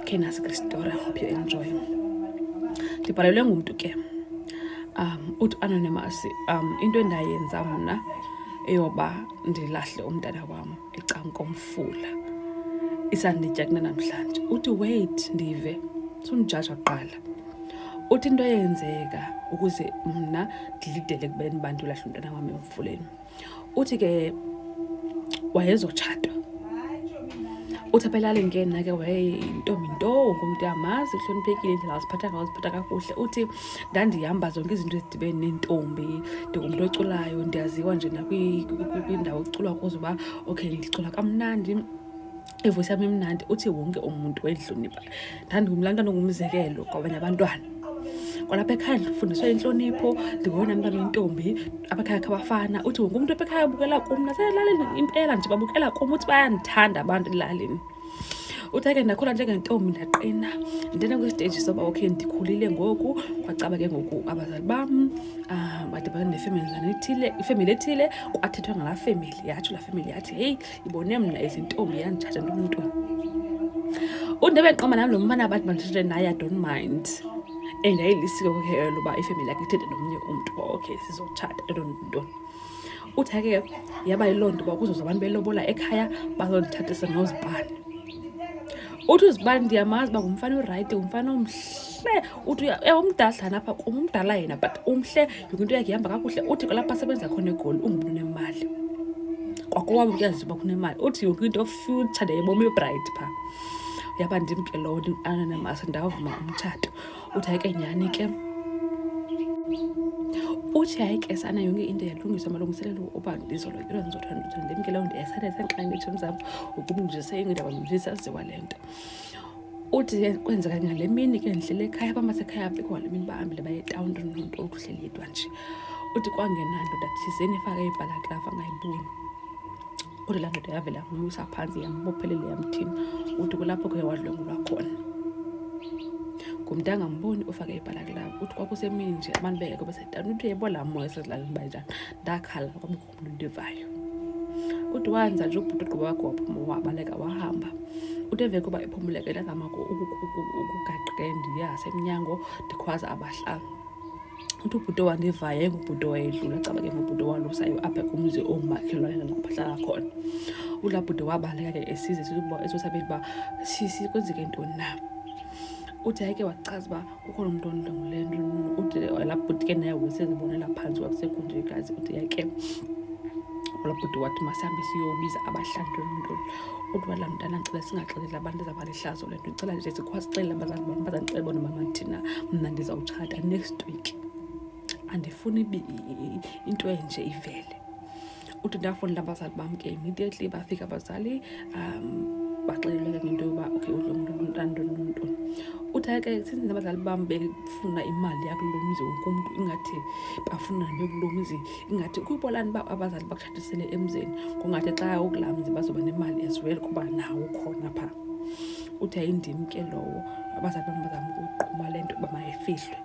Okay, nasi kwisitory. I hope you enjoy. Ndibhalelwe ngumntu ke. Um, uthi anonymous, um, into endayenza mna eyoba ndilahle umntana wam ecankomfula isanditya kunanamhlanje uthi wait ndive sundijaja kuqala uthi into eyenzeka ukuze mna ndilidele kubeni abantu lahle umntana wam emfuleni uthi ke wayezotshata uthi apha elalini ke nake wayeyintombi nto wonke umntu uyamazi uhloniphekile indlela waziphatha ngayo ziphatha kakuhle uthi ndandihamba zonke izinto ezidibene neentombi ndingumntu oculayo ndiyaziwa nje nakwindawo kuculwa kuzo uba okay ndicula kamnandi ivoice yam imnandi uthi wonke umuntu wayidlonipha ndandingumntu laa nto ndingumzekelo kwabanye abantwana kwalapha ekhaya ndifundiswa intlonipho ndingowona mntana oyintombi apha ekhaya khabafana uthi wonke umntu apha ekhaya ubukela kum naselalini impela nje babukela kum uthi bayandithanda abantu elalini uthi ake ndakhula njengentombi ndaqina ndena kwisiteji soba okay ndikhulile ngoku kwacaba ke ngoku abazali bam um badibana nefemeli zanethile ifemeli ethile kwathethwa ngalaa femeli yatsho laa femeli yathi heyi ndibone mna izintombi yanditshaja ntomntoni unde beqoma nam lo mfana abantu banditshate naye i don't mind and ayilisiko ke elo uba ifemeli yakhe ithethe nomnye umntu uba okay sizotshata entontoni uthi ke yaba yiloo nto uba kuzoza abantu belobola ekhaya bazondithathisa nozibani uthi uzibani ndiyamazi uba ngumfana orayithi ngumfana omhle uthi umdadlana apha kum umdala yena but umhle yonke into yakhe ihamba kakuhle uthi kwalapha asebenza khona egoli ungumntu unemali kwakwabo kuyaziwa uba kunemali uthi yonke into future ndayiboma ibright phaa yaba ndim ke lowo ananamasa ndawuvuma umtshato uthi hayi ke nyhani ke uthi hayi ke sana yonke into yalungiswa malungiselelo uba ndizolo into ndizothanda ndimke leyo ndiyasanesenxanitsho mzam ukumndiseyingindaba mndisa ziwa le nto uthi ke kwenzeka ngale mini ke ndihlele ekhaya bamasekhaya apho kwale mini bahambile baye etawuni nomntu okuhleli yedwa nje uthi kwangena ndoda thizeni efake ibhalaklafa angayiboni uthi laa ndoda yavela yamnyusa phantsi yambophelele yamthini uthi kulapho ke wadlwengulwa khona ngumntu angamboni ufake ibhalaklafa uthi kwakusemini nje abantu bengekho besetawuni uthi yebo laa moya esezilalini banjani ndakhala kwamkhulu ndivayo ude wanza nje ubhuti ugqiba wakho waphuma wabaleka wahamba ude emveni koba ephumuleke ndazama ukugaqe ndiya semnyango ndikhwaza abahlanga uthi ubhuti wandivayo engubhuti wayedlula caba ke ngubhuti walusayo apha kumzi ongumakhelwane nalapho ahlala khona ulaa bhuti wabaleka ke esize esosabeni uba sisi kwenzeke ntoni na uthi yayike wachaza uba kukho lo mntu ondlengule nto uthi labhuti ke naye wesezibonela phantsi wakusekho nje kazi uthi yake olabhuti wathi masihambe siyobiza abahlandwe lontoni kodwa la mntana ndicela singaxeleli abantu ezaba lihlazo le nto ndicela nje sikwazi sixelele abazali bam bazandixele bona mama thina mna ndizawutshata next week andifuni into enje ivele uthi ndafunda abazali bam ke immediately bafika abazali um baxeleleke ngento yoba okay udlo mntu ntantoni nontoni uthi ayike since abazali bam befuna imali yakulo mzi wonke umntu ingathi bafuna nekulo mzi ingathi kuyibolani uba abazali bakutshatisele emzini kungathi xa ukulaa mzi bazoba nemali as well kuba nawo khona phaa uthi ayindim ke lowo abazali bam bazama ukuquma le nto uba mayifihlwe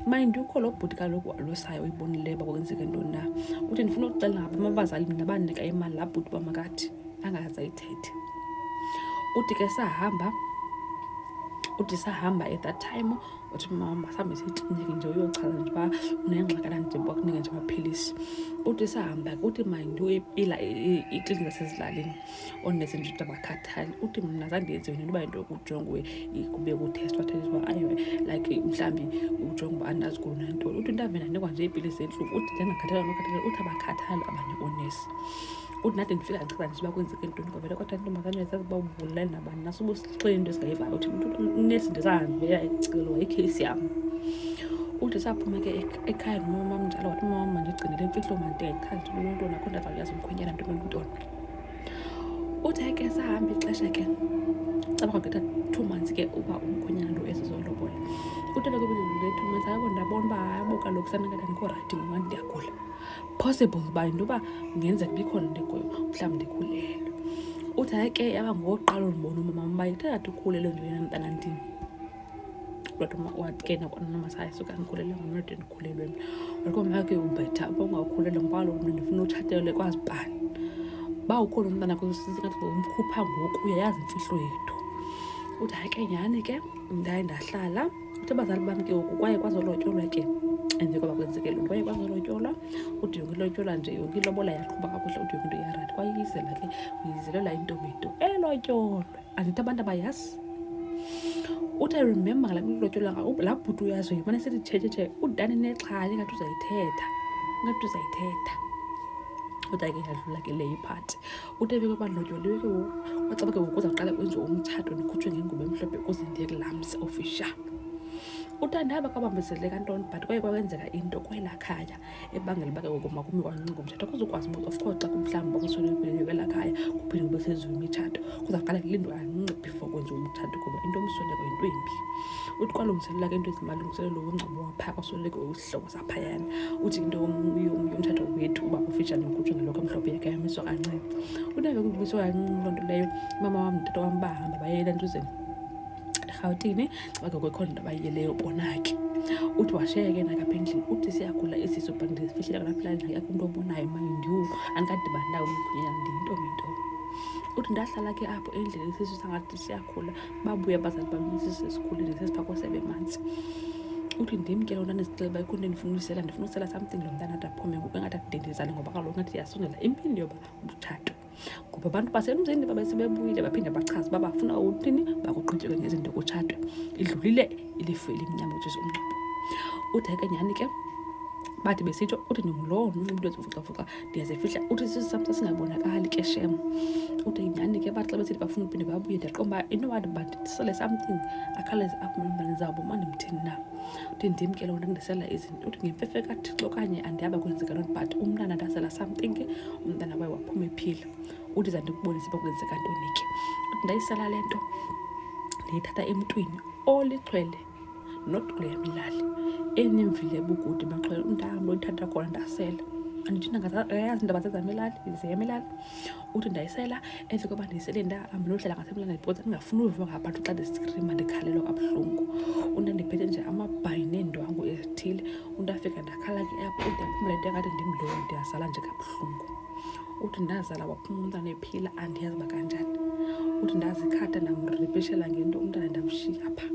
mayindi ukho lo bhuti kaloku alusayo uyibonileyo uba kwenzeke ntoni na uthi ndifuna ukuxela ngapha amabazali mna bandinika imali laa bhuti uba makathi angaze ayithethe uthi ke sahamba uthi sahamba at that time uthi mama masihambe siyikliniki nje uyochaza nje uba unengxakana nje bakunike nje amaphilisi uthi sahamba uthi mayinto ipila ikliniki zasezilalini onezinto ndabakhathali uthi mna zange yenziwe nento uba into kujongwe kube kuthestwa thethisa uba ayiwe like mhlawumbi ujonge uba andazi kona ntoni uthi ndave ndanikwa nje iipilisi zentluku uthi ndingakhathala nokhathala uthi abakhathali abanye oonesi uthi nathi ndifika ndichaza nje uba kwenzeke ntoni kwavele kwatha intombazane yazazi uba ubulali nabani nasuba usixele into esingayivayo uthi unesi ndisahambela icelo wayikheyisi yam uthi saphuma ke ekhaya nomama mnjalo wathi umama mandigcinele imfihlo manteqhazi ntontona kodwa zakuyazi umkhwenyana ntontona Uthe ke sahamba ixesha ke cabanga kwetha two months ke uba umkhwenyana lo esizolobola utata ke bendidlule two months ayabo ndabona uba ayabo kaloku sanakada ndikho rayithi ngoba ndiyagula possible uba into yoba ngenzeka ndikhona ndikuyo mhlawumbi ndikhulelwe uthi hayi ke yaba ngoqala olubona umama uba ithatha ndikhulelwe ndiyena mntana ndini kodwa ke nakwanamasaya suka ndikhulelwe ngomnodeni ukhulelwe mna alikomake ubhetha uba ungakhulelwe ngoba kaloku mna ndifuna utshatele kwazi bani uba ukhona umntana kusingathi ngomkhupha ngoku uyayazi imfihlo yethu uthi hayi ke nyhani ke ndaye ndahlala uthi abazali bam ke ngoku kwaye kwazolotyolwa ke and kwaba kwenzeke lo nto kwaye kwazolotyolwa ude yonke ilotyolwa nje yonke ilobola yaqhuba kakuhle ude yonke into iyarathi kwayiyizela ke uyizelela intombi into elotyolwe andithi abantu abayazi uthi i remember ngala milotyolwa laa bhuti uyazi uye mane sithi thethethe udani nexhala ingathi uzayithetha ingathi uzayithetha kodwa ke yadlula ke leyo iphathi uthi ebeke bandlotyoliwe ke ngoku kwacaba ke ngoku uzawuqala kwenziwa umtshato ndikhutshwe ngengubo emhlophe ukuze ndiye kulamsi official uthandaba kwabambezeleka ntoni but kwaye kwakwenzeka into kwelaa khaya ebangela uba ke ngoku makumi kwancinga umtshato kuzokwazi uba of course xa kumhlawumbi bakuswelekweleni kwela khaya kuphinde kube senziwa imitshato kuzawuqala kulindwa kancinci before kwenziwa umtshato kuba into omsweleko yinto embi uthi kwalungiselela ke into ezimalungiselelo womngcwabo waphaa kwasweleke usihlobo saphayana uthi into yomtshato wethu uba ufitshane ngokutshwe ngeloko emhlophe yakhe yamiswa kancinci kunebe kukumiswa kancinci loo nto leyo umama wam mtata wam bahamba bayela ntuzeni erhawutini xibake kwekho nto abayiyeleyo bona ke uthi washiya ke nakapha endlini uthi siyagula isiso but ndizifihlele kalaphela endlini yakho umntu obonayo mind you andikadibani nayo umgunyana ndiyintomintomi uthi ndahlala ke apho endlini isisu sangathi siyakhula babuye abazali bam isisu esikhulile sesiphakwa sebemanzi uthi ndim ke lona ndizixele uba ikhona ndifuna usela ndifuna usela something lo mntana athi aphume ngoku engathi akudendezane ngoba kaloku ngathi yasondela impindi yoba umtshato ngoba abantu basemzini babe sebebuyile baphinde bachaze uba bafuna uthini bakuqhutyeke ngezinto kutshatwe idlulile ilifu elimnyama which is umngcwabo ude ke nyhani ke bathi besitsho uthi ndingulowo mntu umntu ezivucavhuca ndiyazifihla uthi sisamsa singabonakali ke shem uthi nyhani ke bathi xa besithi bafuna uphinde babuye ndiyaqomba into wathi but sisele something akhawuleze aphume mntana zabo mandimthini na uthi ndim ke lona ndisela izinto uthi ngemfefe kathixo okanye andiyaba kwenzeka loo but umntana ndazela something umntana waye waphuma ephila uthi za ndikubonise uba kwenzeka ntoni ke uthi ndayisala le nto ndiyithatha emntwini olixhwele not kule yam ilali enemvile ebukude baxhwele umntahambe olithatha khona ndasela andithina ngayazi indaba zezam ilali zeyam ilali uthi ndayisela emva koba ndiyisele ndahamba nodlala ngasemlana ndibhoza ndingafuni uviwa ngabantu xa ndisikrima ndikhalelwa kabuhlungu umntu andiphethe nje amabhayi neendwangu ezithile umntu afika ndakhala ke apho ude aphumle into engathi ndimlowo ndiyazala nje kabuhlungu uthi ndazala waphuma umntana ephila andiyazi uba kanjani uthi ndazikhatha ndamripeshela ngento umntana ndamshiya phaa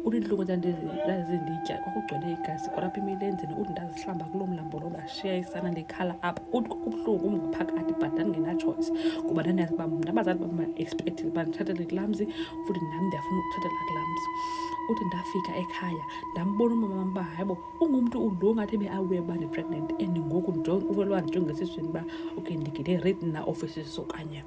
uthi intlungu ndandizinditya kwakugcwele igazi kwalapha emilenzini uthi ndazihlamba kuloo mlambo loba shiya isana ndikhala apha uthi kubuhlungu ngaphakathi but ndandingenatshoyisi kuba ndandiyazi uba mna abazali bam baexpectile uba ndithathele kulaa mzi futhi nam ndiyafuna ukuthathela kulaa mzi uthi ndafika ekhaya ndambona umama wam uba hayibo ungumntu ulo ngathi ebe awuye uba ndi-pregnant and ngoku uvelwa ndijongesiisweni uba okay ndigide rate na offices okanye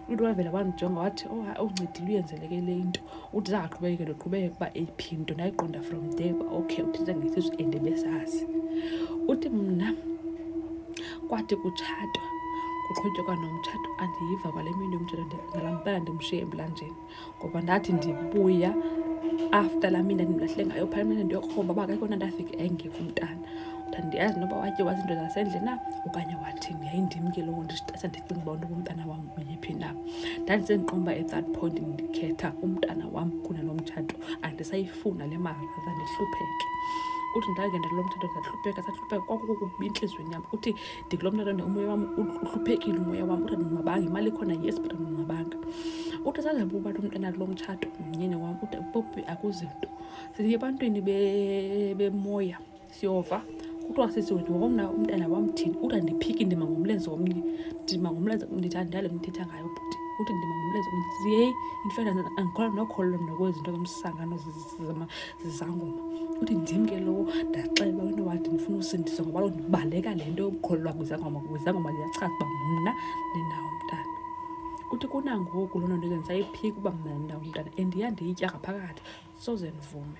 umntu wavela wandijonga wathi oh uncedile uyenzeleke le into uthi zangaqhubekeke ndiqhubeke ukuba eyiphi into ndayiqonda from there uba okay uthetha ngesisu and besazi uthi mna kwathi kutshatwa kuqhutyekwa nomtshato andiyiva kwale mini yomtshato ngalampela ndimshiye emlanjeni ngoba ndathi ndibuya after laa mina ndimlahle ngayo phaa mina ndiyokromba uba akekho nto afike engekho umntana uthanda ndiyazi noba watye wazi into zasendle na okanye wathini yayindim ke lowo ndisitasa ndicinga uba ntoba umntana wam uyephi na ndandisendiqomba at that point ndikhetha umntana wam kunalo mtshato andisayifuna le mali aza ndihlupheke uthi ndangena lo mtshato ndahlupheka sahlupheka kwakukubi entliziyweni yam uthi ndithi lo mntana umoya wam uhluphekile umoya wam uthi andonwabanga imali ikhona yes but andonwabanga uthi sazaba uba lo mntana lo mtshato mnyeni wam uthi popi akuzinto siye ebantwini bemoya siyova kuthiwa sisi wena womna umntana wam thini uthi andiphiki ndima ngomlenze womnye ndima ngomlenze ndithi andale mthetha ngayo bhuti uthi ndima ngomlenze omnye siyeyi in fact andikholwa nokholelwa mna kwezinto zomsangano zangoma uthi ndim ke lowo ndaxelwa into wathi ndifuna usindiswa ngoba lo ndibaleka le nto yokukholelwa kwizangoma kwizangoma ziyachaza uba mna ndinawo umntana uthi kunangoku loo nto ndikenza iphiki uba mna ndinawo umntana and iya ndiyitya ngaphakathi soze ndivume